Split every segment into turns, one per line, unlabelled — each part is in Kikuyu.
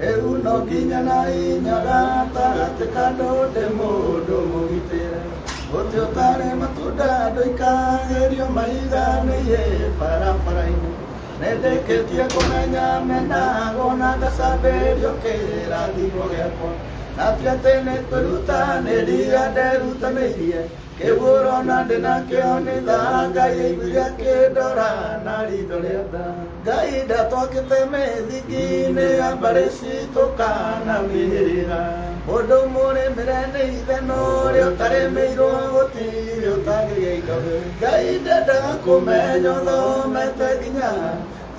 Rĩu no nginya na hinya gatagatĩ ka ndũndĩ mũndũ mũgitĩre mũtĩ ũtarĩ matunda ndũikagĩrio mahiga nĩiĩ barabara-inĩ nĩndĩkĩtie kũmenya menagwo na ngacambĩrio kĩrathimo gĩakwa na ti atĩ nĩkwĩrutanĩria nderutanĩirie kĩguũro na ndĩ nakĩo nĩ tha ngai ĩiguire kĩndora na ritho rĩa tha ngai ndatwakĩte mĩthingi-inĩ ya mbarĩ citũ kana mĩhĩrĩga mũndũ mũrĩmĩre nĩ ithe no ũrĩa ũtarĩmĩirwo gũtirĩ ũtagĩria indo ngai ndendaga kũmenya ũthomete nginya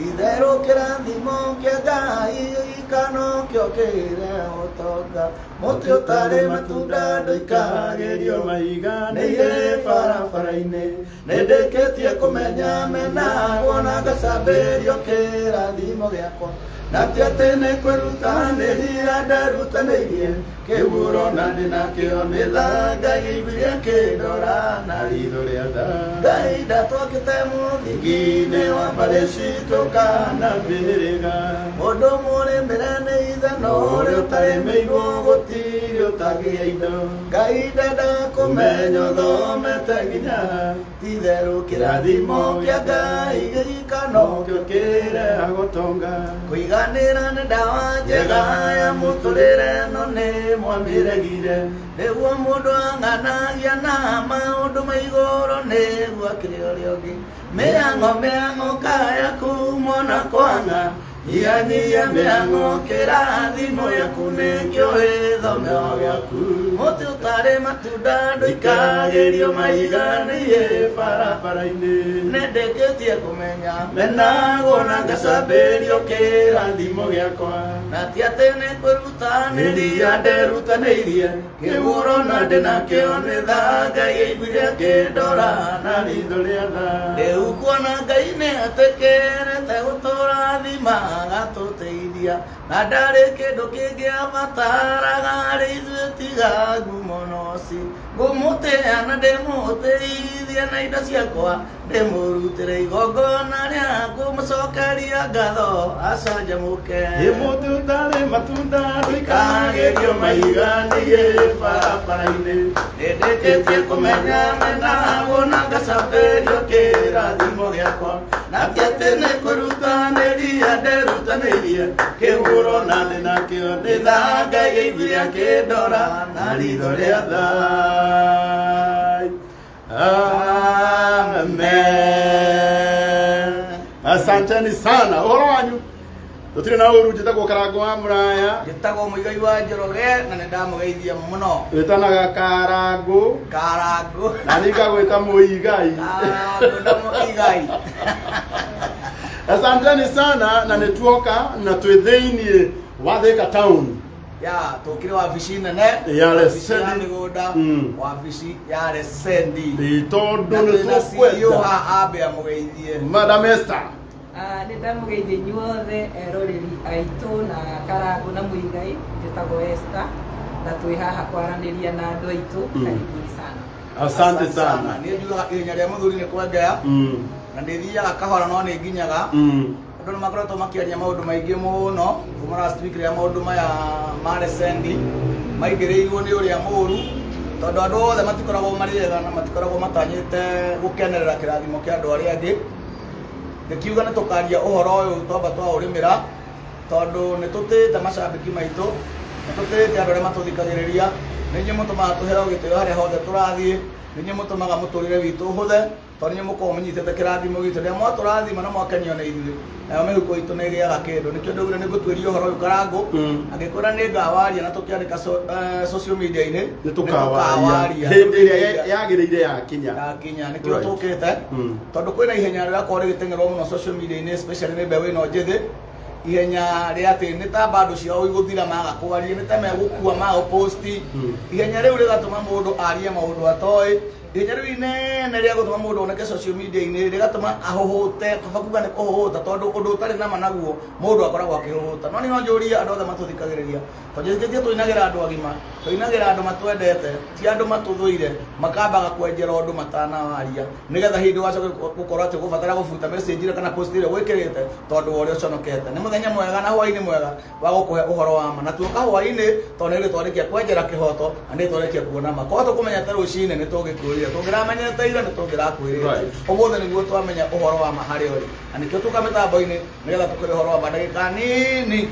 itherũ kĩrathimo kĩa ngai gĩikano kĩo kĩre ũtonga Mũtĩ ũtarĩ matunda ndũikagerio maiga nĩ irĩ barabara-inĩ. Nĩndĩkĩtie kũmenya menagwo na ngacambĩrio kĩrathimo gĩakwa. Na ti atĩ nĩ kwĩruta nĩ hinya nderutanĩirie kĩhuro na ndĩ nakĩo nĩ tha Ngai aiguire kĩndora na ritho rĩa tha. Ngai ndatwakĩte mũthingi-inĩ wa mbarĩ citũ kana mĩhĩrĩga. Mũndũ mũrĩmĩre nĩ ithe no ũrĩa ũtarĩmĩirwo gũtirĩ ũtangĩgĩa indo. Ngai ndenda kũmenya ũthomete nginya itherũ kĩrathimo kĩa Ngai gĩika no kĩo kĩrehaga ũtonga. Kũiganĩra nĩ ndawa njega ya mũtũrĩre no nĩ mwamĩregire. Nĩguo mũndũ ang'anagia na maũndũ ma igũrũ nĩguo akĩrĩ ũrĩa ũngĩ. Mĩhang'o mĩhang'o kaya kumona kwanga Nyihanyihia mĩhang'o kĩrathimo gĩaku nĩkĩo gĩthomeo gĩaku Mũtĩ ũtarĩ matunda ndũikagĩrio mahiga nĩiĩ barabara-inĩ Nĩndĩkĩtie kũmenya menagwo na ngacambĩrio kĩrathimo gĩakwa Na ti atĩ nĩkwĩruta nĩ ria nderutanĩirie kĩhũro na ndĩ nakĩo nĩ tha ngai ĩiguire akĩndora na ritho rĩa tha rĩu kuona ngai nĩ atĩkĩrĩte gũtũra thima agatũteithia na ndarĩ kĩndũ kĩngĩ abataraga harĩ ithuĩ tiga ngumo noci ngũmũtĩa na ndĩmũtĩithie na indo ciakwa ndĩmũrutĩre igongona rĩa kũmũcokeria ngatho acanjamũke ĩ mũndũ ũtarĩ matunda ndũikagĩrio maiga niĩ barabara-inĩ ndĩndĩkĩtie kũmenya mena wona ngacambĩrio kĩrathimo gĩakwa na ti atĩ nĩ kũrutanĩria ndĩrutanĩirie kĩhũro na thĩ nakĩo nĩ tha ngai gĩiguire akĩndora na ritho rĩa thai Amen. Asanteni sana. Uhoro wanyu. Tutire na uru jita gukaranga wa muraya. njĩtagwo mũigai wa njoroge na nĩ ndamũgeithia mũno Wĩtanaga karangu karangũ na ningagwĩta mũigai. karangũ na mũigai Asanteni sana na nĩtuoka na twĩ thĩinĩ wa Thika town. ya tũkĩrĩ wabici nene Ya wabici ya Resendi. mĩgũnda Mm. wabici ya resendi Ĩ, tondũ na nĩ twĩna CEO tũkwenda haha ambe amũgeithie madam Esther Ah, nĩ ndamũgeithia inyuothe eroreri aitũ na karangũ na mũigai njĩtagwo Esther na twĩ haha kwaranĩria na andũ aitũ Mm. karibuni sana asante sana nĩ njugaga ihenya rĩa mũthuri nĩ kwengea Mm, na nĩ thiaga kahora no nĩ nginyaga mm. andũ nĩ makoretwo makĩaria maũndũ maingĩ mũno kuma last week rĩrĩa maũndũ maya ma resendi maingĩrĩirwo nĩ ũrĩa mũru tondũ andũ othe matikoragwo marĩ ega na matikoragwo matanyĩte gũkenerera kĩrathimo kĩa andũ arĩa angĩ ngĩkiuga nĩ tũkaria ũhoro ũyũ twamba twaũrĩmĩra tondũ nĩ tũtĩĩte macambĩki maitũ nĩ tũtĩĩte andũ arĩa matũthikagĩrĩria nĩ inyuĩ mũtũmaga tũheo gĩtĩo harĩa hothe tũrathiĩ nĩ inyuĩ mũtũmaga mũtũrĩre witũ ũhũthe tondũ nĩ mũkorwo mũnyitĩte kĩrathimo gitũ rĩrĩa mwatũrathima na mwakenio na ithuĩ nayo mĩhuko itũ nĩ ĩgĩaga kĩndũ nĩkĩo ndũgire nĩ ngũtuĩria ũhoro ũyũ karangũ angĩkwĩra nĩ ngawaria na tũkĩandĩka so- eh, social media-inĩ nĩ tũkawaria hĩndĩ ĩrĩa ya- yagĩrĩire yakinya yakinya nĩkĩo Right. tũkĩte Mm. tondũ kwĩna ihenya rĩrakorwo rĩgĩteng'erwo mũno social media-inĩ especially nĩ mbeũ ĩno njĩthĩ ihenya rĩa atĩ nĩ ta bandũ ciao igũthira maga kwaria nĩ ta megũkua maga gũposti Mm. ihenya rĩu rĩgatũma mũndũ arie maũndũ atoĩ Rĩu-inĩ nĩ rĩa gũtũma mũndũ oneke social media-inĩ rĩgatũma ahũhũte kaba kuga nĩ kũhũhũta tondũ ũndũ ũtarĩ na ma naguo mũndũ akoragwo akĩhũhũta no niĩ no njũrie andũ othe matũthikagĩrĩria to njĩtĩkĩtie tũinagĩra andũ agima tũinagĩra andũ matwendete ti andũ matũthũire makambaga kwenjera ũndũ matanawaria nĩgetha hĩndĩ wacoke gũkorwo atĩ gũbatara gũbuta message ĩrĩa kana post ĩrĩa wĩkĩrĩte tondũ wa ũrĩa ũconokete nĩ mũthenya mwega na hwainĩ mwega wa gũkũhe ũhoro wa ma na tuoka hwaĩ-inĩ tondũ nĩ rĩtwa rĩkia kwenjera kĩhoto na nĩ rĩtwa rĩkia kuona ma korwo tũkũmenyete rũcinĩ nĩ tũngĩkwĩrire tũngĩramenyete ira nĩ tũngĩrakwĩrire Right. ũmũthĩ nĩguo twamenya ũhoro wa ma harĩa ũrĩ na nĩkĩo tuka mĩtambo-inĩ nĩgetha tũkĩrĩ ũhoro wa ma ndagĩka nini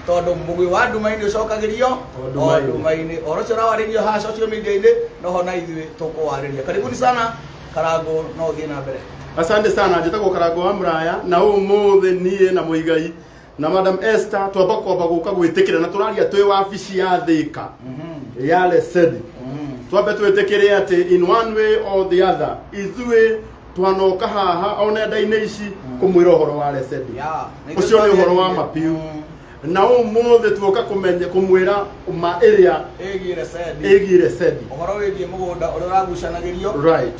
tondũ mũgwĩ wa nduma-inĩ ũcokagĩrio O nduma-inĩ. o nduma-inĩ ũhoro ũcio ũrawarĩrio haha social media-inĩ noho na ithuĩ tũkũwarĩria karibuni sana karango no ũthiĩ na mbere Asante sana, njĩtagwo Karango wa Muraya na ũmũthĩ niĩ na Mũigai na madam Esther twamba kwamba gũka gwĩtĩkĩra na tũraria twĩ wabici ya thĩka ya lesedi twambe twĩtĩkĩre atĩ in one way or the other ithuĩ twanoka haha o nenda-inĩ ici kũmwĩra ũhoro wa lesedi Yeah. ũcio nĩ ũhoro wa mapiu na ũmũthĩ tuoka kũmenya kũmwĩra ma ĩrĩa ĩgiĩ resedi ĩgiĩ lesedi ũhoro wĩgiĩ mũgũnda ũrĩa ũragucanagĩrio right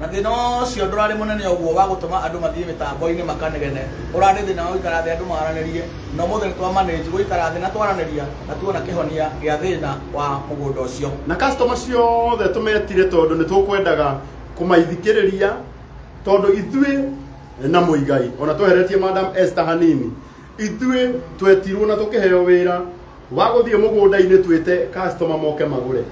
Na thĩna ũcio ndũrarĩ mũnene ũguo wa gũtũma andũ mathiĩ mĩtambo-inĩ makanegene, ũrarĩ thĩna wa gũikara thĩ andũ maranĩrie, na ũmũthĩ nĩ twamanĩnji gũikara thĩ na twaranĩria na tuona kĩhonia gĩa thĩna wa mũgũnda ũcio. Na customer ciothe tũmetire tondũ nĩ tũkwendaga kũmaithikĩrĩria tondũ ithuĩ na Muigai ona tweheretie Madam Esther hanini, ithuĩ twetirwo na tũkĩheo wĩra wagũthiĩ mũgũnda-inĩ twĩte customer moke magũre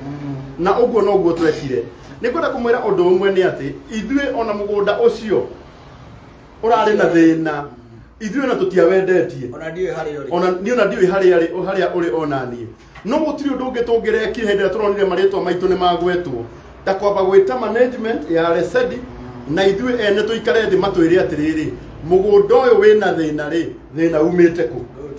na ũguo noguo twekire nĩ kwenda kũmwĩra ũndũ ũmwe nĩ atĩ ithuĩ ona mũgũnda ũcio ũrarĩ na thĩna ithuĩ ona tũtiawendetie ona ndiũĩ harĩa ũrĩ ona niĩ ona ndiũĩ harĩa rĩ- harĩa ũrĩ ona niĩ no gũtirĩ ũndũ ũngĩ tũngĩrekire hĩndĩ ĩrĩa tũronire marĩtwa maitũ nĩ magwetwo ta kwamba gwĩta management ya resedi na ithuĩ ene tũikare thĩ matwĩre atĩrĩrĩ mũgũnda ũyũ wĩna thĩna rĩ thĩna umĩte kũ Good.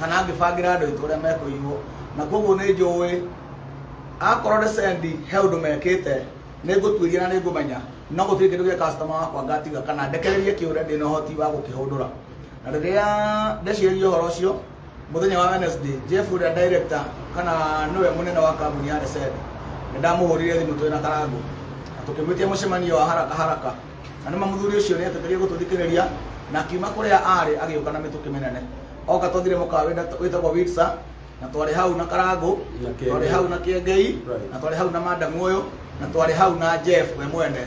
kana ngĩbangĩra andũ aitũ ũrĩa mekũiywo na koguo nĩ njũĩ akorwo nĩ sendi he ũndũ mekĩte nĩ ngũtuĩria na nĩ ngũmenya no gũtirĩ kĩndũ gĩa kastoma wakwa ngatiga kana ndekererie kĩũre ndĩ na ũhoti wa gũkĩhũndũra na rĩrĩa ndeciririe ũhoro ũcio muthenya wa Wednesday Jeff uria director kana niwe munene wa kambuni ya Resend ndamuhurire thimu twina karangu tukimwitia mucemanio wa haraka haraka Na nĩ mũthuri ũcio nĩ eteterio gũtũthikĩrĩria na akiuma kũrĩa aarĩ agĩũka na mĩtũkĩ mĩnene. Oka twathire mũkawa wĩta- wĩtagwo Witsa na twarĩ hau na Karangũ, Na Kĩengei. twarĩ hau na Kĩengei, Right. na twarĩ hau na Madam ũyũ, na twarĩ hau na Jeff we mwene,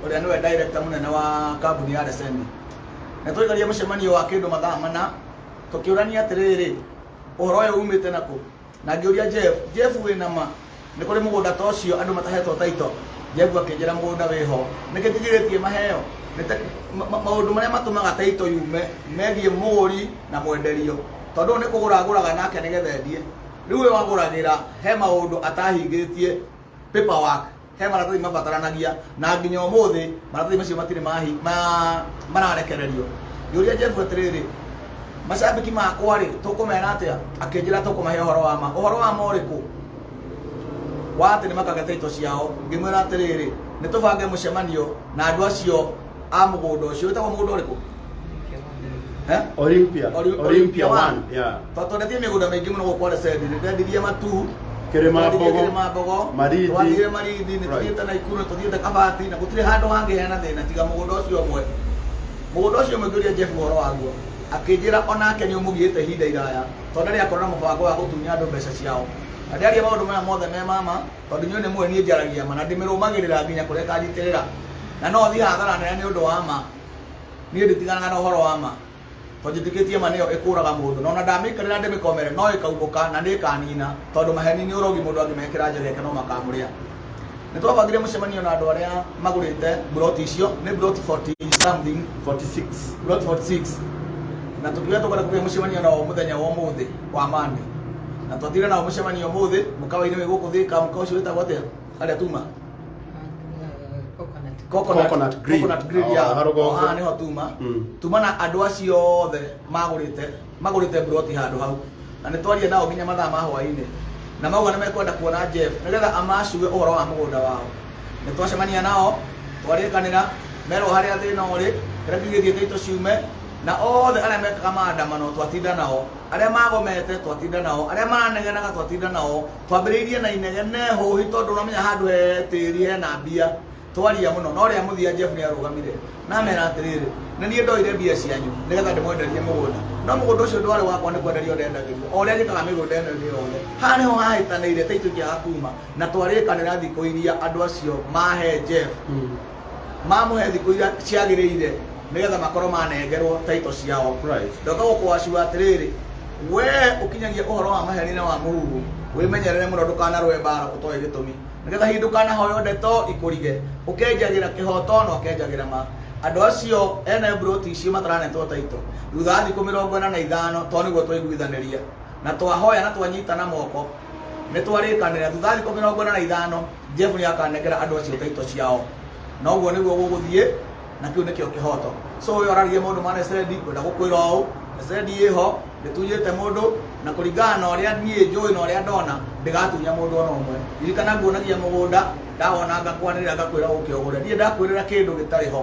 ũrĩa nĩwe director mũnene wa kambuni ya Resende. Na twaikaria mũcemanio wa kĩndũ mathaa mana, tũkĩũrania atĩrĩrĩ, ũhoro ũyũ umĩte na kũ? Na ngĩũria Jeff, Jeff, wĩ na ma nĩ kũrĩ mũgũnda ta ũcio andũ matahetwo taito? Jeff akĩnjĩra, Mũgũnda wĩ ho. Nĩkĩ njigirĩtie maheo? Nĩ ta, ma, ma, maũndũ marĩa matũmaga taito yume megiĩ mũgũri na mwenderio. Tondũ ũyũ nĩ kũgũra agũraga nake nĩgetha endie. Rĩu ũyũ agũragĩra he maũndũ atahingĩtie paperwork. he maratathi mabataranagia na nginya ũmũthĩ maratathi macio matirĩ mahi ma mararekererio ngĩũria jebu atĩrĩrĩ macambĩki makwa rĩ tũkũmera atĩa akĩnjĩra tũkũmahe ũhoro wa ma ũhoro wa ma ũrĩkũ wa atĩ nĩ makagete ito ciao ngĩmwĩra atĩrĩrĩ nĩ tũbange mũcemanio na andũ acio a mũgũnda ũcio wĩtagwo mũgũnda ũrĩkũ Eh? Olympia. Oli- Olympia one. Yeah. tondũ twendetie mĩgũnda mĩingĩ mũno gũkũ Lesedi nĩ twendirie matu Kĩrĩma twendirie Mbogo, kĩrĩma mbogo Marindi. twathiire marindi nĩ Right. tũthiĩte na ikuru nĩ tũthiĩte kabati na gũtirĩ handũ hangĩheana thĩna tiga mũgũnda ũcio ũmwe mũgũnda ũcio ũmwe ngĩũria Jeff ũhoro waguo akĩnjĩra onake nĩ ũmũgiĩte ihinda iraya tondũ ndarĩ akorwo na mũbango wa gũtunya andũ mbeca ciao na ndaria maũndũ maya mothe me mama tondũ inyuĩ nĩ mũĩ niĩ njaragia ma na ndĩmĩrũmagĩrĩra nginya kũrĩa ĩkanjitĩrĩra na no thiĩ hathara nene nĩ ũndũ wa ma niĩ nditiganaga na ũhoro wa ma tondũ njĩtĩkĩtie ma nĩyo ĩkũraga mũndũ na ona ndamĩikarĩra ndĩmĩkomere no ĩkaumũka na nĩ ĩkanina tondũ maheni nĩ ũrogi mũndũ angĩmekĩra njĩra yake no makamũrĩa nĩ twabangire mũcemanio na andũ arĩa magũrĩte mburoti icio nĩ mburoti 40 something 46 mburoti 46 na tũkiuga tũkwenda kũgĩa mũcemanio nao mũthenya wa ũmũthĩ wa mande na twatire nao mũcemanio ũmũthĩ mũkawa-inĩ wĩ gũkũ thĩka mũkawa ũcio wĩtagwo atĩa harĩa tuma coconut, Coconut grill. coconut grill Ah, ya haha rũgongo. haha niho tuma Mm. tuma na andå acio othe magårĩte magårĩte mburoti handå hau na nä twaria nao nginya mathaa ma hwainä na mauga nä mekwenda kuona jeff nä getha amacuge å horo wa må gå nda wao nä twacemania nao twarä kanä ra merwo harä a thä na å rä kä rä a kiugä thiä tå ciume na othe arĩa mekaga maandamano twatinda nao arĩa magomete twatinda nao arĩa maranegenaga twatinda nao twambĩrĩirie na inegene hũhi tondũ ũramenya handũ he tĩri hena mbia twaria mũno no rĩa mũthia jeff nĩ arũgamire na mera atĩrĩrĩ nĩ niĩ ndoire mbia cianyu nĩgetha ndĩmwenderie mũgũnda no mũgũnda ũcio ndwarĩ wakwa nĩ kwenderio ndendagĩrio o ũrĩa njĩkaga mĩgũnda ĩno ĩngĩ yothe haha nĩho hahĩtanĩire ta itũikĩaga kuma na twarĩkanĩra thikũ iria andũ acio mahe jeff mamũhe thikũ iria ciagĩrĩire nĩgetha makorwo manengerwo taito ciao Right. ndoka gũkũwacua atĩrĩrĩ wee ũkinyagia ũhoro wa maherina wa mũhuhu wĩmenyerere mũno ndũkanarũe mbara ũtoĩ gĩtũmi nĩgetha hihi ndũkanahoyo ndeto ikũrige ũkenjagĩra kĩhoto na ũkenjagĩra ma andũ acio ene mburoti icio mataranetwo taito thutha wa thikũ mĩrongo ĩna na ithano to nĩguo twaiguithanĩria na twahoya na twanyitana moko nĩ twarĩkanĩra thutha wa thikũ mĩrongo ĩna na ithano Jehova nĩ akanengera andũ acio taito ciao na ũguo nĩguo gũgũthiĩ na kĩu nĩkĩo kĩhoto so ũyũ araririe maũndũ ma Nesedi kwenda gũkwĩra ũũ Nesedi ĩho ndĩtunyĩte mũndũ na kũringana na ũrĩa niĩ njũĩ na ũrĩa ndona ndĩgatunya mũndũ ona ũmwe ririkana nguonagia mũgũnda ndawona ngakwanĩrĩra ngakwĩra ũke ũgũre niĩ ndakwĩrĩra kĩndũ gĩtarĩ ho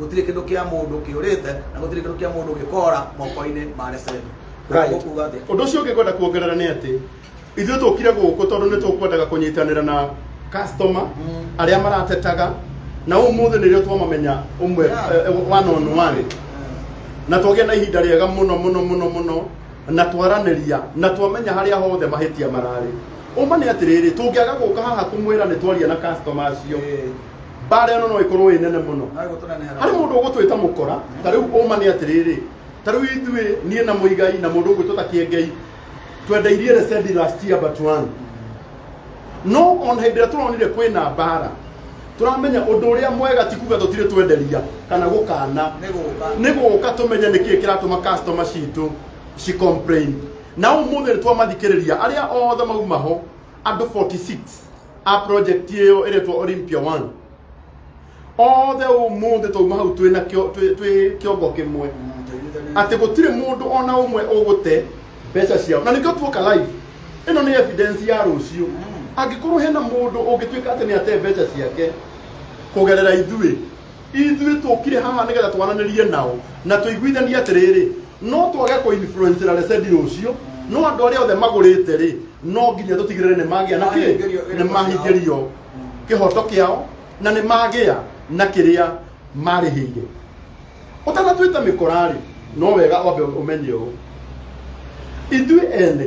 gũtirĩ kĩndũ kĩa mũndũ kĩũrĩte na gũtirĩ kĩndũ kĩa mũndũ gĩkora moko-inĩ ma Reseni. Right. Ũkuuga atĩa? Ũndũ ũcio ũngĩ ngwenda kuongerera nĩ atĩ ithuĩ tũkire gũkũ tondũ nĩ tũkwendaga kũnyitanĩra na customer Mm. arĩa maratetaga na ũmũthĩ nĩrĩo twamamenya ũmwe Yeah. eh, eh, one on one na twagĩa na ihinda rĩega mũno mũno mũno mũno na twaranĩria na twamenya harĩa hothe mahĩtia mararĩ ũma nĩ atĩrĩrĩ tũngĩaga gũka haha kũmwĩra nĩ twaria na customer acio Eh. mbara ĩno no ĩkorwo ĩ nene mũno harĩ mũndũ ũgũtwĩta mũkora ta rĩu ũma nĩ atĩrĩrĩ ta rĩu ithuĩ niĩ na mũigai na mũndũ ũgwĩtwĩta kĩengei twendeirie resendi last year but one no ona hĩndĩ ĩrĩa tũronire kwĩna mbara tũramenya ũndũ ũrĩa mwega ti kuga tũtirĩ twenderia kana gũkana nĩ gũka tũmenye nĩ kĩĩ kĩratũma customer citũ ci complain na ũmũthĩ nĩ twamathikĩrĩria arĩa othe mauma ho andũ 46 a project ĩyo ĩretwo Olympia One othe ũmũthĩ twauma hau twĩ na kĩo- twĩ- twĩ kĩongo kĩmwe atĩ gũtirĩ mũndũ ona ũmwe ũgũte mbeca ciao na nĩkĩo tuoka live ĩno nĩ evidence ya rũciũ angĩkorwo hena mũndũ ũngĩtuĩka atĩ nĩ ate mbeca ciake kũgerera ithuĩ ithuĩ tũkire haha nĩgetha twaranĩrie nao na tũiguithanie atĩrĩrĩ no twage kũinfluencera resedi rũciũ no andũ arĩa othe magũrĩte rĩ no nginya tũtigĩrĩre nĩ magĩa na kĩ nĩ mahingĩrio kĩhoto kĩao na nĩ magĩa na kĩrĩa marĩhĩire ũtanatuĩte mĩkora rĩ no wega wambe ũmenye ũũ ithuĩ ene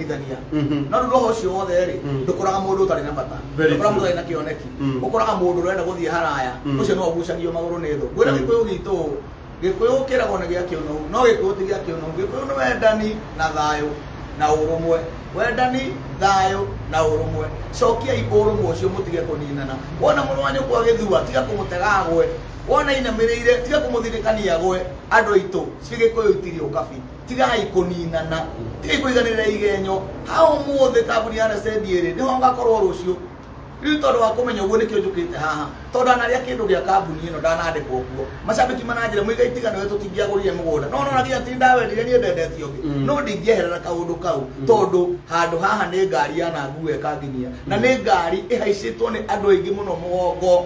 kũnyitithania Mhm. no rĩu roho ũcio wothe rĩ Mm. ndũkoraga mũndũ ũtarĩ na bata Very ndũkoraga mũndũ true. ũtarĩ na kĩoneki Mm. ũkoraga mũndũ ũrenda gũthiĩ haraya Mm. ũcio no ũgucagio magũrũ nĩ thũ ngwĩra Mm. gĩkũyũ gitũ ũũ, gĩkũyũ kĩragwo nĩ gĩa kĩũnũhu no gĩkũyũ ti gĩa kĩũnũhu gĩkũyũ nĩ wendani na thayũ na ũrũmwe wendani thayũ na ũrũmwe cokiai ũrũmwe ũcio mũtige kũninana wona mũrũ wa nyũkwa gĩthua tiga kũmũtega agwe wona inamĩrĩire tiga kũmũthirĩkania agwe andũ aitũ cigĩkũyũ itirĩ ũkabi tigai kũninana tigai kũiganĩrĩra igenyo ha ũmũthĩ kambuni ya resendi ĩrĩ nĩho ngakorwo rũciũ rĩu tondũ wa kũmenya ũguo nĩkĩo njũkĩte haha tondũ ndanarĩa kĩndũ gĩa kambuni ĩno ndanandĩkwo kuo macambĩki mananjĩra mũiga itigana we tũtingĩagũrire mũgũnda no nona nginya ti ndawendire niĩ ndendete ũngĩ Mm. no ndingĩeherera kaũndũ kau tondũ handũ haha nĩ ngari yananguo ĩkanginyia na nĩ ngari ĩhaicĩtwo nĩ andũ aingĩ mũno mũgongo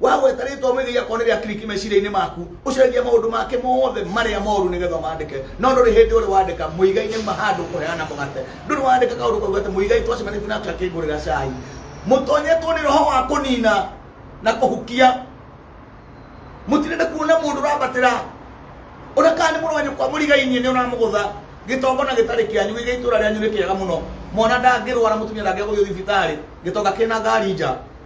wagweta rĩtwa ũmĩgĩi akorwo nĩ rĩa kiriki meciria-inĩ maku ũcenjia maũndũ make mothe marĩa moru nĩgetha ũmandĩke no ndũrĩ hĩndĩ ũrĩ wandĩka mũigai nĩuma handũ kũheana mũgate ndũrĩ wandĩka kaũndũ kauga atĩ mũigai twacemanĩtie nake akĩngũrĩra cai mũtonyetwo nĩ roho wa kũnina na kũhukia mũtirende kuona mũndũ ũrambatĩra ona kana nĩ mũrũ wanyu kwa mũrigainie nĩ ũramũgũtha gĩtongo na gĩtarĩ kĩanyu gĩgĩ itũra rĩanyu nĩ kĩega mũno mwana ndangĩrwara mũtumia ndangĩgũthio thibitarĩ gĩtonga kĩna ngari nja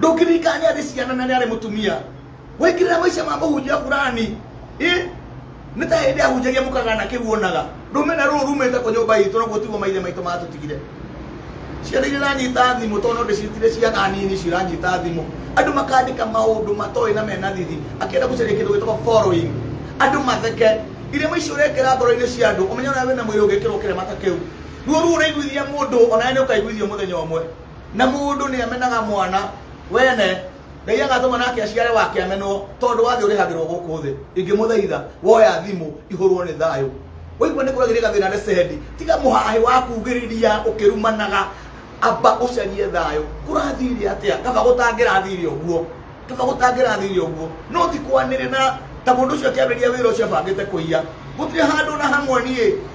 ndũngĩririkana nĩ arĩ ciana na nĩ arĩ mũtumia waingĩrĩra maica ma mũhunjia burani ĩ nĩ ta hĩndĩ ahunjagia mũkagana kĩu wonaga rũmena rũrũ rumĩte kũ nyũmba itũ naguo tiguo maithe maitũ matũtigire ciana iria iranyita thimũ tondũ no ndĩcitire ciana nini icio iranyita thimũ andũ makandĩka maũndũ matoĩ na mena thithi akĩenda gũcaria kĩndũ gĩtagwo following andũ matheke irema icio ũrekĩra ngoro-inĩ cia andũ ũmenye ona wĩna mwĩrĩ ũngĩkĩrwo kĩrema ta kĩu ruo ruo ũraiguithia mũndũ ona we nĩ ũkaiguithio mũthenya ũmwe na mundu ni amenaga mwana wene ngai agatũma nake aciare wake amenwo tondũ wathi ũrĩhagĩrwo gũkũ thĩ ingĩmũthaitha woya thimũ ihũrwo nĩ thayũ waigua nĩ kũragĩrĩ gathĩna nĩ sendi tiga mũhahĩ wa kugĩrĩria ũkĩrumanaga amba ũcarie thayũ kũrathiire atĩa kaba gũtangĩrathiire ũguo kaba gũtangĩrathiire ũguo no ti kwanĩrĩ na ta mũndũ ũcio akĩambĩrĩria wĩra ũcio abangĩte kũiya gũtirĩ handũ na hamwe niĩ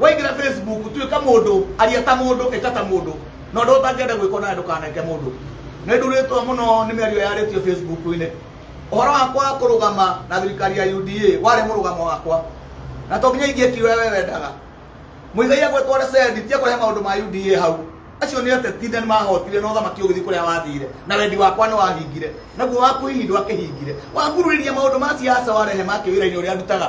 waingĩra facebook tuĩka mũndũ aria ta mũndũ ĩka ta mũndũ na ũndũ ũtangĩenda gwĩkwo nawe ndũkaneke mũndũ nĩ ndurĩtwo mũno nĩ mĩario yarĩtio facebook-inĩ ũhoro wakwa kũrũgama na thirikari ya uda warĩ mũrũgamo wakwa na to nginya ingĩekire ũrĩa we wendaga mũigai agwetwo resendi ti ekũrehe maũndũ ma uda hau acio nĩ atetinde nĩ mahotire na ũthamaki ũgĩthiĩ kũrĩa wathire na wendi wakwa nĩ wahingire naguo waku hihi ndwakĩhingire wakuruĩria maũndũ ma siasa warehe ma kĩwĩra-inĩ ũrĩa ndutaga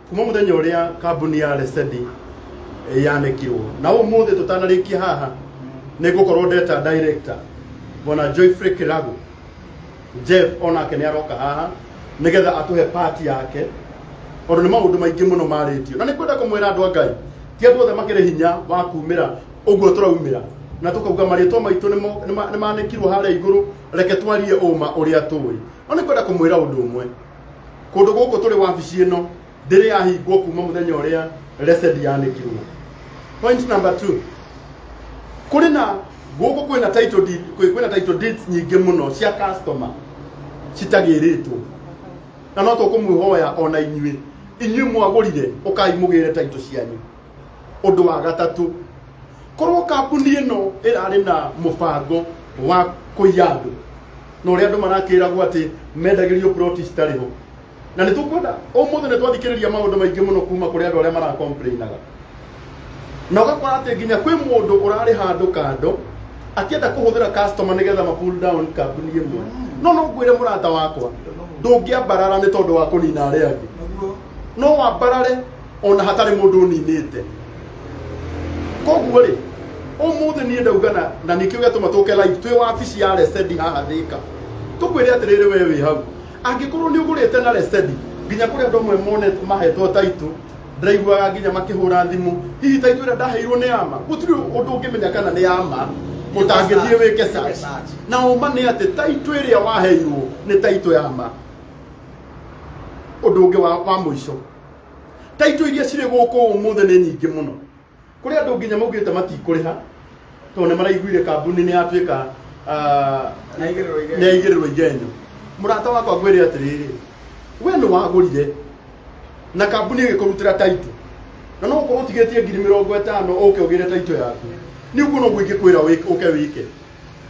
kuma muthenya uria kambuni ya Lesedi yanekirwo na umuthi tutanarikia haha ni gukorwo ndeta director bwana Joyfrey Kiragu Jeff onake ni aroka haha nigetha atuhe part yake ondu ni maundu maingi muno maritio na ni kwenda kumwira andu a Ngai ti andu othe makiri hinya wa kumira uguo turaumira na tukauga marĩtwa maitũ nĩmo- nĩma- nĩmanĩkirwo harĩa igũrũ reke twarie ũma ũrĩa tũĩ no nĩ kwenda kũmwĩra ũndũ ũmwe kundu guku turi wabici ino ndiri yahingwo kuma muthenya uria resed yanikirwo point number 2 kuri na guku kwina title deed kwi- kwina title deeds nyingi muno cia customer citagiritwo na no tukumwihoya ona inyuĩ inyuĩ mwagũrire ũkai mũgĩre taito cianyu Ũndũ wa gatatũ, korwo kambuni ĩno ĩrarĩ na mũbango wa kũiya andũ na ũrĩa andũ marakĩragwo atĩ mendagĩrio ploti citarĩ ho na nĩ tũkwenda ũmũthĩ nĩ twathikĩrĩria maũndũ maingĩ mũno kuma kũrĩ andũ arĩa marakomplainaga na ũgakora atĩ nginya kwĩ mũndũ ũrarĩ handũ kando akĩenda kũhũthĩra customer nĩgetha ma pull down kambuni ĩmwe no no ngwĩre mũrata wakwa ndũngĩambarara nĩ tondũ wa kũnina arĩa angĩ no wambarare ona hatarĩ mũndũ ũninĩte koguo rĩ ũmũthĩ niĩ ndauga na na nĩkĩo gĩatũma tũke live twĩ wabici ya resedi haha thĩka tũkwĩre atĩrĩrĩ we wĩ hau angĩkorwo nĩ ũgũrĩte na resedi nginya kũrĩ andũ amwe mone mahetwo taitũ ndaiguaga nginya makĩhũra thimũ hihi taitũ ĩrĩa ndaheirwo nĩ ama gũtirĩ ũndũ ũngĩmenya kana nĩ ama ũtangĩthiĩ wĩke search na ũma nĩ atĩ taitũ ĩrĩa waheirwo nĩ taitũ ya ma ũndũ ũngĩ wa, wa mũico taitũ iria cirĩ gũkũ ũmũthĩ nĩ nyingĩ mũno kũrĩ andũ nginya maugĩte matikũrĩha tondũ nĩ maraiguire kambuni nĩ yatuĩka ah, Nĩ yaigĩrĩrwo igenyo. nĩ yaigĩrĩrwo igenyo mũrata wakwa ngwĩre atĩrĩrĩ we nĩ wagũrire na kambuni ĩgĩkũrutĩra taitũ na no ũkorwo ũtigĩtie ngiri mĩrongo ĩtano ũke ũgĩre taitũ yaku nĩ ũguo no guo ingĩkwĩra wĩke- ũke wĩke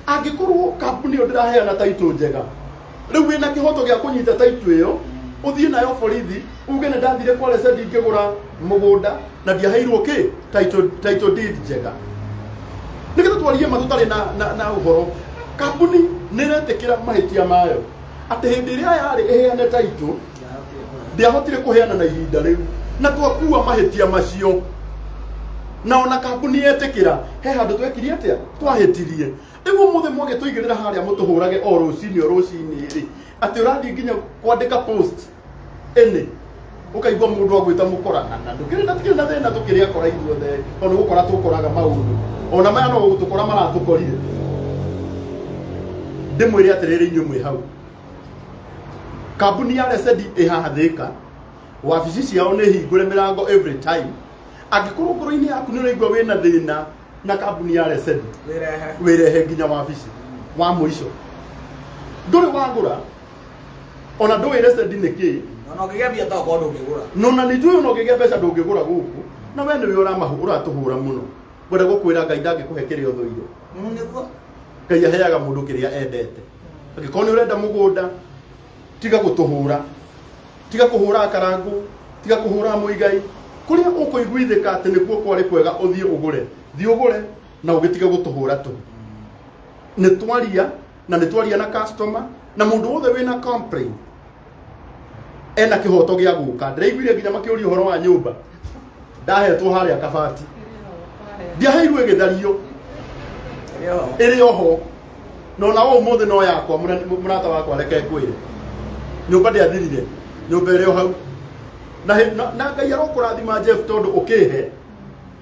angĩkorwo kambuni ĩyo ndĩraheana taitũ njega rĩu wĩna kĩhoto gĩa kũnyita taitũ ĩyo ũthiĩ nayo borithi uge nĩ ndathire kwa rece ndingĩgũra mũgũnda na ndiaheirwo kĩ taitũ taitũ deed njega nä getha twarie ma tå tarä na, na, na å horo kambuni nä retä kä ra mahä tia mayo atä hä ndä ä rä a yarä ä heane taitå ndĩahotire kũheana na ihinda rĩu na twakua mahĩtia macio na ona kambuni yetĩkĩra he handũ twekirie atĩa twahĩtirie rĩu ũmũthĩ mwagĩ tũigĩrĩra harĩa mũtũhũrage o rũcinĩ o rũcinĩ rĩ atĩ ũrathiĩ nginya kwandĩka post ĩnĩ ũkaigua mũndũ agwĩta mũkora na na ndũkĩrĩ na tikĩrĩ na thĩna tũkĩrĩ akora ithuothe tondũ gũkora tũkoraga maũndũ ona maya no gũtũkora maratũkorire ndĩmwĩre atĩrĩrĩ inyuĩ mwĩ hau kambuni ya resedi ĩhathĩka wabici ciao nĩ hingũre mĩrango every time angĩkorwo ngoro-inĩ yaku nĩ ũraigua wĩna thĩna na kambuni ya resedi Wĩrehe. wĩrehe nginya wabici wa mũico ndũrĩ wagũra ona ndũĩ resedi nĩ kĩĩ Ona ũngĩgethia ta ũkorwo ndũngĩgũra. nona nä njå na å ngä gä a mbeca ndå ngä gå ra gå kå na we nä wä å ratå hå ra må no ngwenda gå kwä ra ngai ndangä kå he kä rä a å thå ire Mm, nĩguo. ngai aheaga må ndå kä rä a endete angĩkorwo nĩ ũrenda mũgũnda tiga gũtũhũra tiga kũhũra karangũ tiga kũhũra mũigai kũrĩa ũkũiguithĩka atĩ nĩkuo kwarĩ kwega ũthiĩ ũgũre thiĩ ũgũre na ũgĩtige gũtũhũra tũ nĩ twaria na nĩ twaria na customer na mũndũ wothe wĩna complain ena kihoto gia guka ndiraiguire nginya makiuria horo wa nyumba ndahetwo haria kabati ndiaheirwo igithario iri oho no na o muthi no yakwa mũra- mũrata wakwa reke ngwire nyumba ndiathirire nyumba iri o hau na he- na- na ngai arokurathima jeff tondu ukihe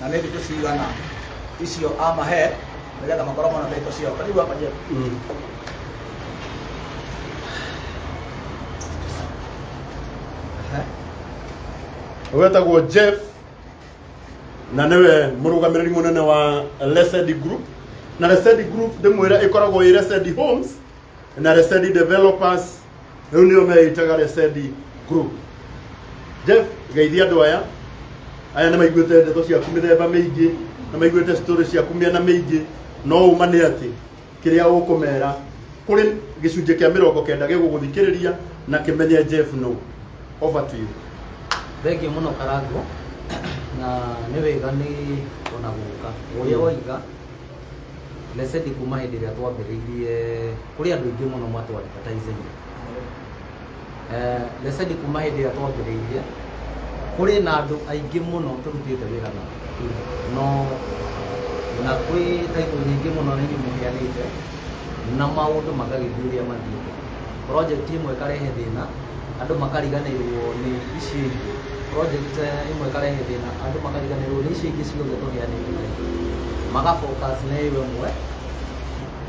na nä thikå cigana icio amahe nä getha makorwo mona thikå ciao karibu hapa Jeff. Mm. Ehe. wetagwo jeff na nĩwe mũrũgamĩrĩri mũnene wa lesedi group na lesedi group ndĩmwĩra ĩkoragwo ĩ lesedi homes na Resedi Developers rĩu nĩo meĩtaga Resedi Group Jeff geithia andũ aya aya nĩ maiguĩte ndeto ciaku mĩthemba mĩingĩ nĩ maiguĩte story ciaku mĩena mĩingĩ no ũma nĩ atĩ kĩrĩa ũkũmera kũrĩ gĩcunjĩ kĩa mĩrongo kenda gĩgũgũthikĩrĩria na kĩmenye Jeff no over to you thengiå må no karangå na nä wega nä ona gå ka å rä a waiga Blessed kuma hĩndĩ ĩrĩa twambĩrĩirie kũrĩ andũ aingĩ mũno mwatũ advertising eh, Blessed kuma hĩndĩ ĩrĩa twambĩrĩirie kũrĩ na andũ aingĩ mũno tũrutĩte wĩra na no na kwĩ taitũ nyingĩ mũno na inyuĩ mũheanĩte na maũndũ magagĩthiĩ ũrĩa mathiĩte project ĩmwe ĩkarehe thĩna andũ makariganĩrwo nĩ icio ingĩ project ĩmwe ĩkarehe thĩna andũ makariganĩrwo nĩ icio ingĩ ciothe tũheanĩte maga focus na ĩyo ĩmwe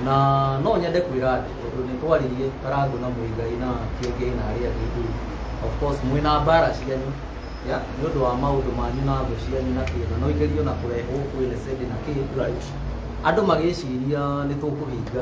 na no nyende kwĩra andũ tondũ nĩ twaririe karangũ na mũigai na kĩngĩ na arĩa angĩ tu of course mwĩ na mbara cianyu ya nĩ ũndũ wa maũndũ manyu na thũ cianyu na kĩ na no igerio na kũrehwo kwĩ lesedi na kĩ Right. andũ magĩciria nĩ tũkũhinga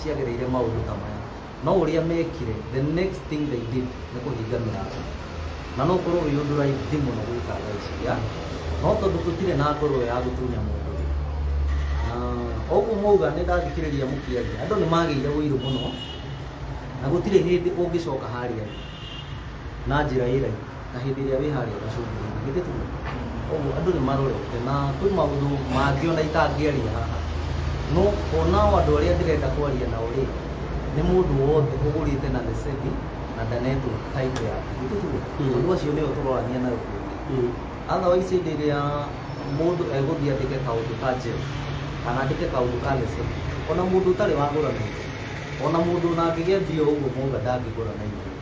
ciagereire maũndũ ta maya no ũrĩa mekire the next thing they did nĩ kũhinga mĩrango na no ũkorwo wĩ ũndũ raithi mũno gwĩka thaa ici ya no tondũ tũtirĩ na ngoro ya gũtunya mũndũ rĩ na ũguo mauga nĩ ndathikĩrĩria mũkĩaria andũ nĩ magĩire ũiru mũno na gũtirĩ hĩndĩ ũngĩcoka harĩa rĩ na njĩra ĩ raithi Na hĩndĩ ĩrĩa wĩ harĩa gacũngũrũ-inĩ, githĩ tiguo? Koguo andũ nĩ marorete, na kwĩ maũndũ mangĩ ona itangĩaria haha, no ona o andũ arĩa ndĩrenda kwaria nao rĩ, nĩ mũndũ wothe ũgũrĩte na receni na ndanetwo title yake, githĩ tiguo? Tondũ acio nĩo tũrorania nao kũngĩ. Otherwise hĩndĩ ĩrĩa mũndũ egũthiĩ andĩke kaũndũ ka njerũ, kana andĩke kaũndũ ka receni, ona mũndũ ũtarĩ wagũra na itherũ, ona mũndũ ona angĩgĩa mbia o ũguo mũga ndangĩgũra na itherũ.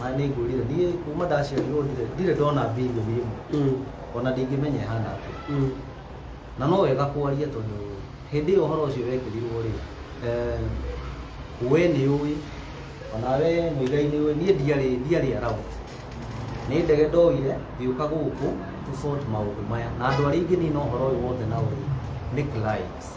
na nĩ ngũrire niĩ kuma ndaciarirwo ndirĩ- ndirĩ ndona bilioni ĩmwe Mm. ona ndingĩmenya ĩhana atĩa Mm. na no wega kwaria tondũ hĩndĩ ĩyo ũhoro ũcio wekĩrirwo rĩ eh, we nĩ ũĩ onawe mũigai nĩ ũĩ niĩ ndiarĩ ndiarĩ around nĩ ndege ndoire ngĩũka gũkũ to sort maũndũ maya na andũ arĩa ingĩ nina ũhoro ũyũ wothe na ũrĩ nĩ clients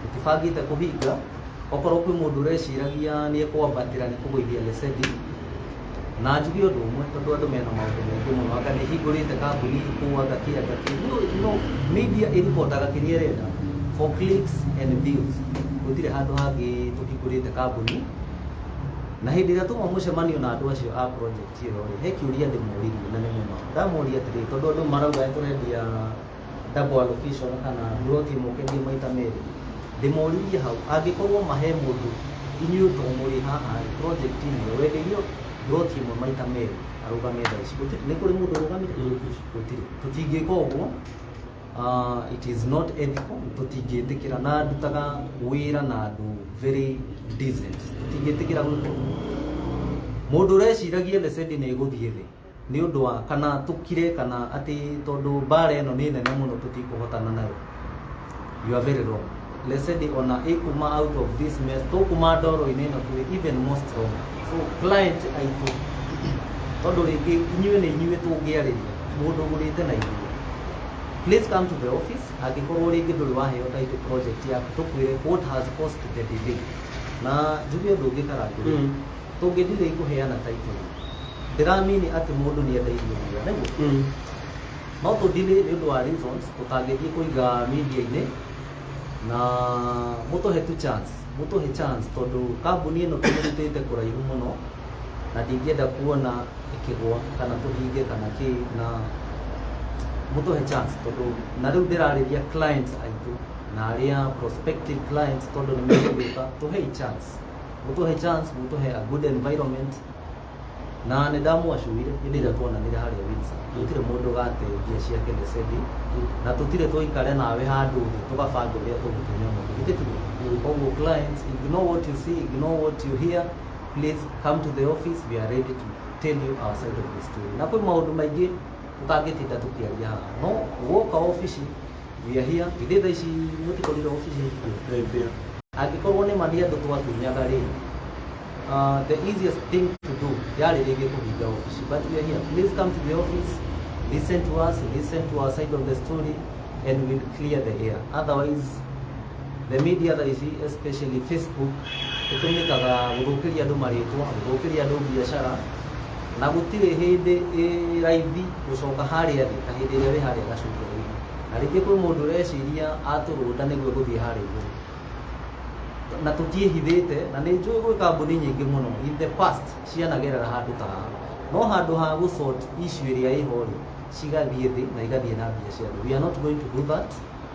Tũtibangĩte kũhinga. Okorwo kwĩ mũndũ ũreciragia nĩ ekwambatĩra nĩ kũgũithia Lesedi, na njuge ũndũ ũmwe, tondũ andũ mena maũndũ maingĩ mũno, anga nĩ hingũrĩte kambuni kũu, anga kĩ, anga kĩ. No, no, media ĩribotaga kĩrĩa ĩrenda for clicks and views. Gũtirĩ handũ hangĩ tũhingũrĩte kambuni. Na hĩndĩ ĩrĩa twauma mũcemanio na andũ acio a project ĩyo-rĩ, he kĩũria ndĩmoririe na nĩ mũma. Ndamoria atĩrĩrĩ, tondũ andũ marauga nĩ tũrendia double allocation kana mburoti ĩmwe ũkendie maita merĩ ndĩmũririe hau angĩkorwo mahe mũndũ inyuĩ to mũrĩ haha rĩ project inĩ ĩyo wenderio mburoti ĩmwe maita merĩ arũgame thaa ici Gũtirĩ- nĩ kũrĩ mũndũ ũrũgamire gũtirĩ tũtingĩka ũguo Ah, it is not ethical tũtingĩtĩkĩra na ndutaga wĩra na andũ very decent tũtingĩtĩkĩra gwĩka ũguo mũndũ ũreciragia the sending ĩgũthiĩ thĩ nĩ ũndũ wa kana tũkire kana atĩ tondũ mbara ĩno nĩ nene mũno tũtikũhotana nayo you are very wrong lesedi ona ĩkuma out of this mess tũkuma ndoro-inĩ ĩno tũrĩ even more strong so client aitũ tondũ rĩngĩ inyuĩ nĩ inyuĩ tũngĩarĩria mũndũ ũgũrĩte na inyuĩ please come to the office angĩkorwo rĩngĩ ndũrĩ waheo title project yaku tũkwĩre what has caused the delay na njuge ũndũ ũngĩ karangũ Mm. Tũngĩ ndirĩ ngũheana title ĩyo. Ndĩramini atĩ mũndũ nĩ endeirio wĩra, nĩguo? Mm. No tũdilĩ nĩ ũndũ wa reasons tũtangĩthiĩ kũiga media-inĩ na mũtũhe tu chance, mũtũhe chance tondũ kambuni ĩno tũmĩrutĩte kũraihu mũno na ndingĩenda kuona ĩkĩgwa kana tũhinge kana kĩ na mũtũhe chance tondũ na rĩu ndĩrarĩria clients aitũ na arĩa prospective clients tondũ nĩ megũgĩũka tũhei chance. mũtũhe chance mũtũhe a good environment na nĩ ndamwacurire hĩndĩ ĩrĩa twonanire harĩa Windsor gũtirĩ mũndũ gate mbia ciake nĩ sethi na tũtirĩ tũikare nawe handũ thĩ tũgabanga ũrĩa tũgũtumia mũndũ githĩ tiguo koguo clients ignore what you see ignore what you hear please come to the office we are ready to tell you our side of the story na kwĩ maũndũ maingĩ tũtangĩtinda tũkĩaria haha no woka ofici Hiahia, githĩ thaa ici mũtikorire obici hingũre? Angĩkorũo nĩ ma nĩ andũ twatunyaga-rĩ, ah, the easiest thing to do yarĩ rĩngĩ kũhinga obici. But we are here. Please come to the office, listen to us, listen to our side of the story, and we'll clear the air. Otherwise, the media thaa ici especially facebook ĩtũmĩkaga gũthũkĩria andũ marĩtwa gũthũkĩria andũ biacara na gũtirĩ hĩndĩ ĩ raithi gũcoka harĩa thĩ na hĩndĩ ĩrĩa wĩ harĩa gacukia raithi na rĩngĩ kwĩ mũndũ ũreciria atũrũnda nĩguo gũthiĩ harĩa igũrũ na tũtiĩhithĩte na nĩ njũĩ gwĩ kambuni nyingĩ mũno in the past cianagerera handũ ta haha no handũ ha gũsort issue ĩrĩa ĩho rĩ cigathiĩ thĩ na igathiĩ na mbia cia thĩ we are not going to do that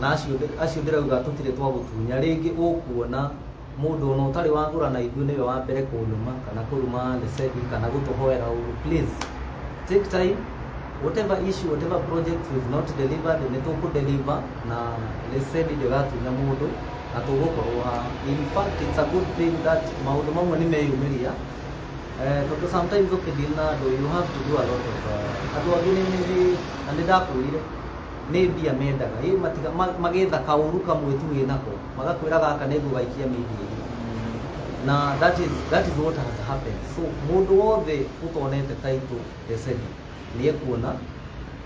na acio ndĩ- acio ndĩrauga tũtirĩ twagũtunya rĩngĩ ũkuona mũndũ ona ũtarĩ wagũra na ithuĩ nĩwe wa mbere kũnuma kana kũruma lesebi kana gũtũhoera ũru please take time whatever issue whatever project we've not delivered nĩ tũkũdeliver na lesebi ndĩgatunya mũndũ na tũgũkorwo ha in fact it's a good thing that maũndũ mamwe nĩ meyumĩria Eh, tondũ sometimes ũkĩdeal na andũ you have to do a lot of uh, andũ angĩ nĩ nĩ- na nĩ ndakwĩrire nĩ mbia mendaga ĩ matiga ma- magetha kaũru kamwe tu wĩ nako magakwĩra gaka nĩguo gaikia mĩhiĩ na that is, that is what has happened so mũndũ wothe ũtonete taitũ esedi nĩ ekuona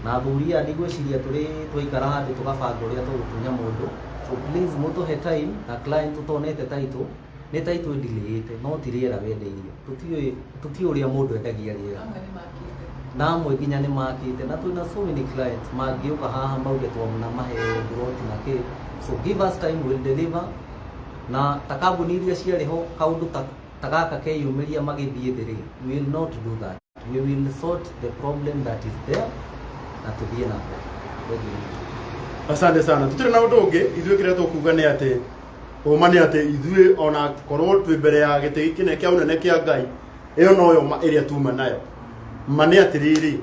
na athuri aya ndigwĩciria tũrĩ twaikara handũ tũgabanga ũrĩa tũgũtunya mũndũ so please mũtũhe time na client ũtonete taitũ nĩ ta ithuĩ ndilĩĩte no ti rĩera wendeirio tũtiũĩ tũtiũĩ ũrĩa mũndũ endagia rĩera amwe nĩ makĩte na amwe nginya nĩ makĩte na twĩna so many clients mangĩũka haha mauge twamna mahe mburoti na kĩ so give us time will deliver na ta kambuni iria ciarĩ ho kaũndũ ta ta gaka keyumĩria magĩthiĩ thĩ rĩ we will not do that we will sort the problem that is there na tuthie na mbere Thengiũ. asante sana tutirĩ na ũndũ ũngĩ ithuĩ kĩrĩa tũkuga nĩ atĩ ũma nĩ atĩ ithuĩ ona korwo twĩ mbere ya gĩtĩ gĩkĩ kĩnene kĩa ũnene kĩa ngai ĩyo noyo ma ĩrĩa tuma nayo ma nĩ atĩrĩrĩ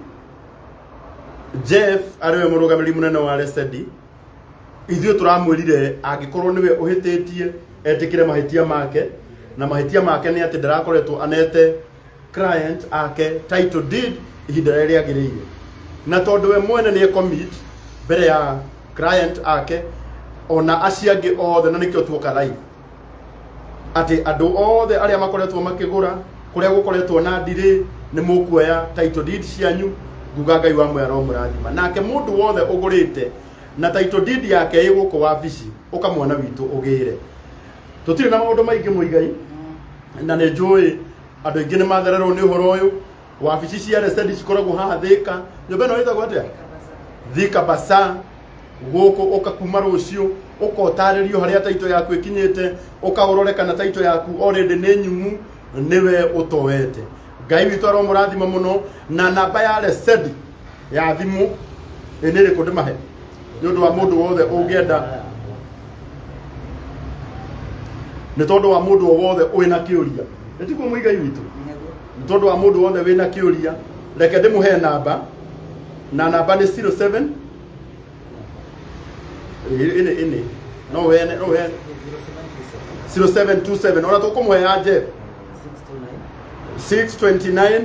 jeff arĩwe mũrũgamĩrĩri mũnene wa resedi ithuĩ tũramwĩrire angĩkorwo nĩwe ũhĩtĩtie etĩkĩre mahĩtia make na mahĩtia make nĩ atĩ ndarakoretwo anete client ake title deed ihinda rĩrĩa rĩagĩrĩire na tondũ we mwene nĩ commit mbere ya client ake ona acio angĩ othe na nĩkĩo tuoka live atĩ andũ othe arĩa makoretwo makĩgũra kũrĩa gũkoretwo na ndirĩ nĩ mũkuoya title deed cianyu nguga ngai wa mwera mũrathima nake mũndũ wothe ũgũrĩte na title deed yake ĩ gũkũ wabici ũkamwana witũ ũgĩre tũtirĩ na maũndũ maingĩ mũigai na nĩ njũĩ andũ aingĩ nĩ mathererwo nĩ ũhoro ũyũ wabici cia resedi cikoragwo haha thĩka nyũmba ĩno ĩtagwo atĩa thika basa gũkũ ũka kuma rũciũ ũka ũtarĩrio harĩa taito yaku ĩkinyĩte ũka ũrore kana taito yaku already nĩ nyumu nĩwe ũtoete ngai witũ aromũrathima mũno na namba ya resedi ya thimũ ĩ nĩ ĩrĩkũ ndĩmahe nĩ ũndũ wa mũndũ wothe ũngĩenda nĩ tondũ wa mũndũ o wothe ũrĩ na kĩũria nĩ tiguo mũigai witũ nĩ tondũ wa mũndũ wothe wĩ na kĩũria reke ndĩmũhe namba na namba nĩ 07 ĩnĩ ĩnĩ ĩnĩ no wene no wene 0727 ona tũkũmũhe ya Jeff 629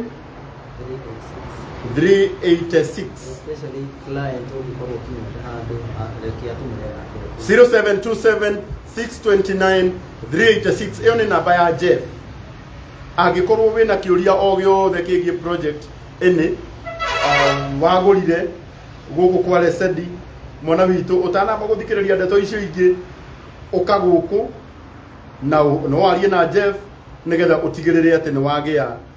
386 especially client ũngĩkorwo ũkinyĩte handũ rekia tũmũre nake 0727 629 386 ĩyo nĩ namba ya jeff angĩkorwo wĩna kĩũria o gĩothe kĩgiĩ project ĩnĩ um, wagũrire gũkũ kwa lesedi mwana witũ ũtanamba gũthikĩrĩria ndeto icio ingĩ ũka gũkũ na ũ- no warie na jeff nĩgetha ũtigĩrĩre atĩ nĩ wagĩa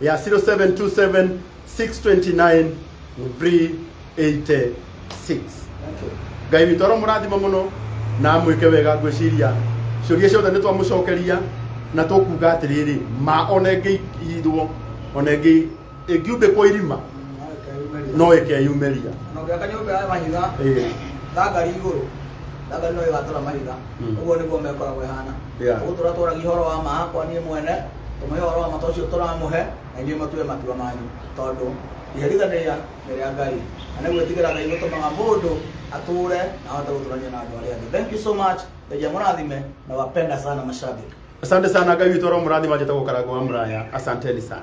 ya 0727 629 386 ngai witå oro må rathima må no na amwä ke wega ngwä ciria ciåria ciothe nä twamå cokeria na tå kuga atä rä rä ma ona ä ngä ithwo ona ä ngä ä ngiumbä kwo irima no ä keyumä ria na ũngĩaka nyũmba ya mahiga Ĩĩ. thangari igũrũ thangari no ĩgatũra mahiga Mm. ũguo nĩguo mekoragwo ĩhana Yeah. ũgũtũra tũragia ũhoro wa ma hakwa niĩ mwene ũmũhe ũhoro wa matua ũcio tũramũhe na inyuĩ mũtue matua manyu tondũ iherithanĩria nĩ rĩa ngai na nĩ gwĩtigĩra ngai gũtũmaga mũndũ atũre na ahote gũtũrania na andũ arĩa angĩ thank you so much ndegia mũrathime na wapenda sana mashabiki Asante sana Ngai witũ aromũrathima njĩtagwo Karangũ wa Muraya. Asanteni sana.